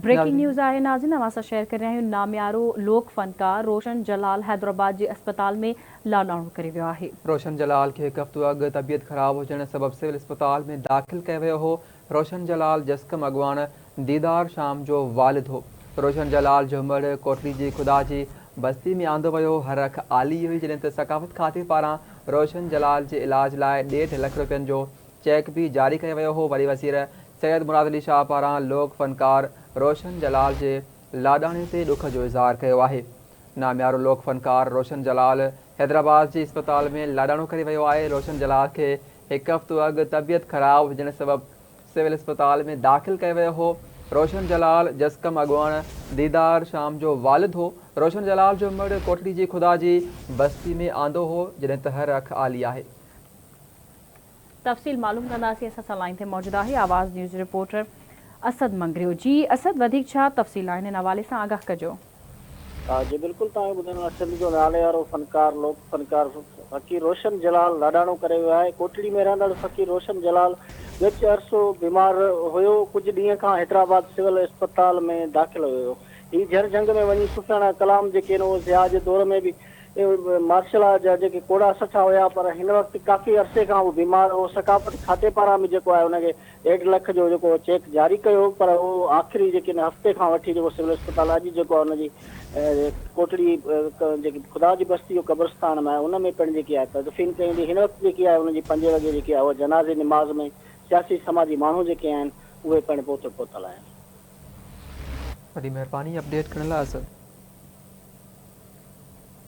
Breaking news آهي ناظرين اوهان سان شيئر ڪري رهيا آهيون ناميارو لوڪ فنڪار روشن جلال حيدرآباد جي اسپتال ۾ لاڏاڻو ڪري ويو آهي. روشن جلال کي هڪ هفتو اڳ طبيعت خراب هجڻ سبب سول اسپتال ۾ داخل ڪيو ويو هو. روشن جلال جسقم اڳواڻ ديدار شام جو والد هو. روشن جلال جهومڙ ڪوٽڙي جي خدا جي بستي ۾ آندو ويو هو. هر اک آلي هئي جڏهن ته ثقافت کاتي پاران روشن جلال جي علاج لاء ڏيڍ لک روپين جو چيڪ به جاري ڪيو ويو هو. وڏي وزير سيد مراد علي شاهه پاران لوڪ فنڪار روشن جلال جي لاڏاڻي تي ڏک جو اظهار ڪيو آهي. ناميارو لوڪ فنڪار روشن جلال حيدرآباد جي اسپتال ۾ لاڏاڻو ڪري ويو آهي. روشن جلال کي هڪ هفتو اڳ طبيعت خراب هجڻ سبب سول اسپتال ۾ داخل ڪيو ويو هو. روشن جلال جسقم اڳواڻ ديدار شام جو والد هو. روشن جلال جو مڙهه ڪوٺڙي جي خدا جي بستي ۾ آندو هو، جڏهن ته هر اک آلي آهي. تفصيل معلوم ڪنداسين اسان سان لائين تي موجود آهي آواز نيوز رپورٽر اسد مڱريو جي اسد وڌيڪ ڇا تفصيل آهن ان حوالي سان آگاهه ڪجو. جي بلڪل توهان ٻڌو نو آهي سنڌ جو ناليوارو فنڪار لوڪ فنڪار فقير روشن جلال لاڏاڻو ڪري ويو آهي ڪوٽڙي ۾ رهندڙ فقير روشن جلال ڳچ عرصو بيمار هيو ڪجهه ڏينهن کان حيدرآباد سول اسپتال ۾ داخل هيو هي جهر جهنگ ۾ وڃي صوفياڻا ڪلام جيڪي نو ضياء جي دور ۾ به مارشل لا جا جيڪي ڪوڙا سٺا هيا پر هن وقت ڪافي عرصي کان هو بيمار هو ثقافت کاتي پاران به جيڪو آهي ان کي ڏيڍ لک جو جيڪو چيڪ جاري ڪيو پر اهو آخري جيڪي ان هفتي کان وٺي جيڪو سول اسپتال اڄ جيڪو آهي ان جي ڪوٽڙي جيڪي خدا جي بستي جو قبرستان ۾ ان ۾ پڻ جيڪي آهي تدفين ڪئي ويندي هن وقت جيڪي آهي ان جي پنجين وڳي جيڪي آهي اهو جنازي نماز ۾ سياسي سماجي ماڻهو جيڪي آهن اهي پڻ پهتو پهتل آهن. وڏي مهرباني اپڊيٽ ڪرڻ لاء اسد.